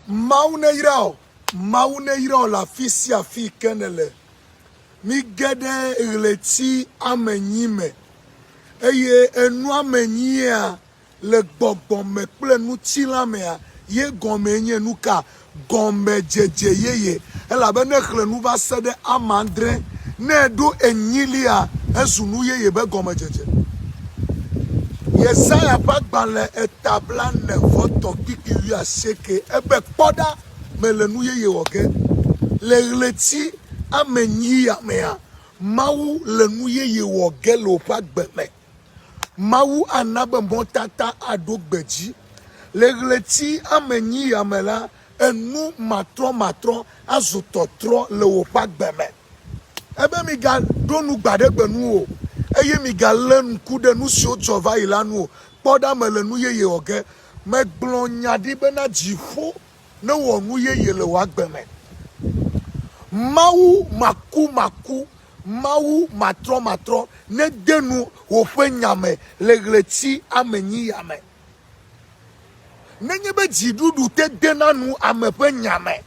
Mawu neyra wò, Mawu neyra wò le afi sia afi yi ke nèle. Mige ɖe ɣleti amenyi me eye enuamenyia le gbɔgbɔ me kple ŋutilã mea ye gɔmee nye nu ka? Gɔmedzedze yeye. Elabe ne èxlẽ nu va se ɖe ame adre, ne èɖo enyilia, ezu nu yeye be gɔmedzedze. Yesaya ƒe agbalẽ eta blaene vɔ tɔ̃ kpikpi wuiasieke ebe, Kpɔ ɖa, mele nu yeye wɔ ge. Le ɣleti ame enyia mea, Mawu le nu yeye wɔ ge le wòƒe agbe me. Mawu ana be mɔtata aɖo gbedzi. Le ɣleti ame enyia me la, enu matrɔmatrɔ azu tɔtrɔ le wòƒe agbe me. Ebe migaɖo nu gbaɖegbe nu o, eye migalé ŋku ɖe nu siwo dzɔ va yi la nu o. Kpɔ ɖa mele nu yeye wɔ ge. Megblɔ nya ɖi bena dziƒo newɔ nu yeye le wò agbe me. Mawu makumaku, Mawu matrɔmatrɔ nede nu woƒe nya me le ɣleti amenyiya me. Nenye be dziɖuɖu te dena nu ame ƒe nya me.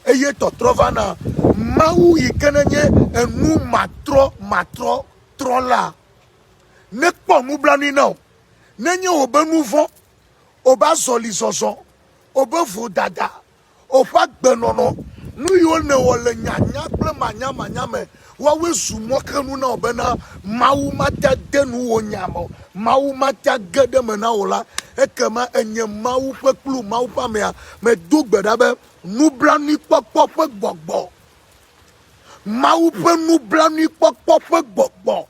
eye tɔtrɔ va na Mawu yi ke nenye enu matrɔ matrɔ trɔ la nekpɔ nublanui na wò. Nenye wòbe nu vɔ̃, wòbe azɔlizɔzɔ, wòbe vodada, wòƒe agbenɔnɔ, nu yiwo nèwɔ le nyanya kple manyamanya me Woawoe zu mɔxenu na wò bena Mawu mate ade nu wò nya me o, Mawu mate age ɖe eme na wò la, ekema ènye Mawu ƒe kplu, Mawu ƒe amea. Medo gbe ɖa be nublanuikpɔkpɔ ƒe gbɔgbɔ, Mawu ƒe nublanuikpɔkpɔ ƒe gbɔgbɔ,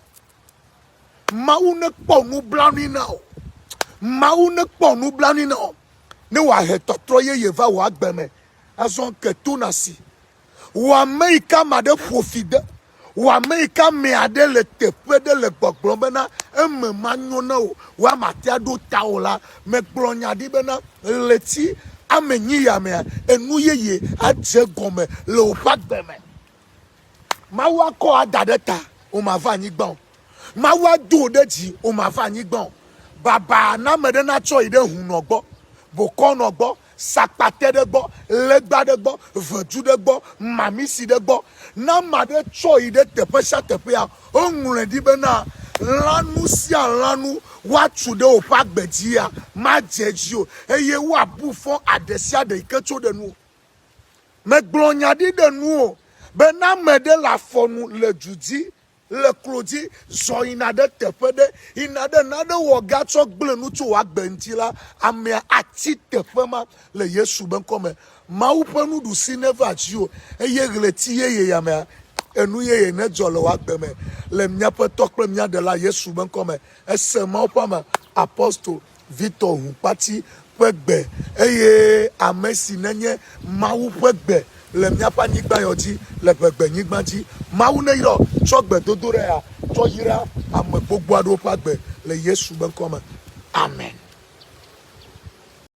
Mawu nekpɔ nublanui na wò, Mawu nekpɔ nublanui na wò, ne wòahe tɔtrɔ yeye va wò agbe me. Azɔ ke to na si Wò ame yi ka ame aɖe ƒo fi de? Wò ame yi ka ame aɖe le teƒe ɖe le gbɔgblɔ bena eme manyo na wò wa matea ɖo ta o la? Megblɔ nya ɖi bena ɣleti ame nyi ya mea, enu yeye adze egɔme le woƒe agbe me. Mawu akɔ wò ada ɖe ta, wò mava anyigba o. Mawu ado wò ɖe dzi, wò mava anyigba o. Baba na ame ɖe natsɔ yi ɖe hunɔ gbɔ, bokɔnɔ gbɔ. sakpate ɖe gbɔ, legba ɖe gbɔ, ʋedu ɖe gbɔ, mamisi ɖe gbɔ. Ne ame aɖe tsɔ yi ɖe teƒe sia teƒea, woŋlɔe ɖi bena, lãnu sia lãnu woatu ɖe woƒe agbe dzia, madze edzi o, eye woabu fɔ aɖe sia aɖe yi ke tso ɖe nuwò. Megblɔ nya ɖi ɖe nuwò be ne ame ɖe le afɔ nu le du dzi, Le klo dzi, zɔ yina ɖe teƒe ɖe yina ɖe nane wɔ ga tsɔ gblẽ nu tso wò agbe ŋuti la, amea ati teƒe ma le Yesu be ŋkɔ me. Mawu ƒe nuɖusi neva dziwò, eye ɣleti yeye ya me, enu yeye nedzɔ le wò agbe me. Le míaƒe Tɔ kple mía Ɖela Yesu be ŋkɔ me, ese Mawu ƒe ame, apostol, Victor Hukpati ƒe gbe eye ame si nenye Mawu ƒe gbe le míaƒe anyigba yɔ dzi le ʋegbenyigba dzi. Mawu neyɔ tsɔ gbedodoɖaea tsɔ yra ame gbogbo aɖewo ƒe agbe le Yesu be ŋkɔ me. Amen.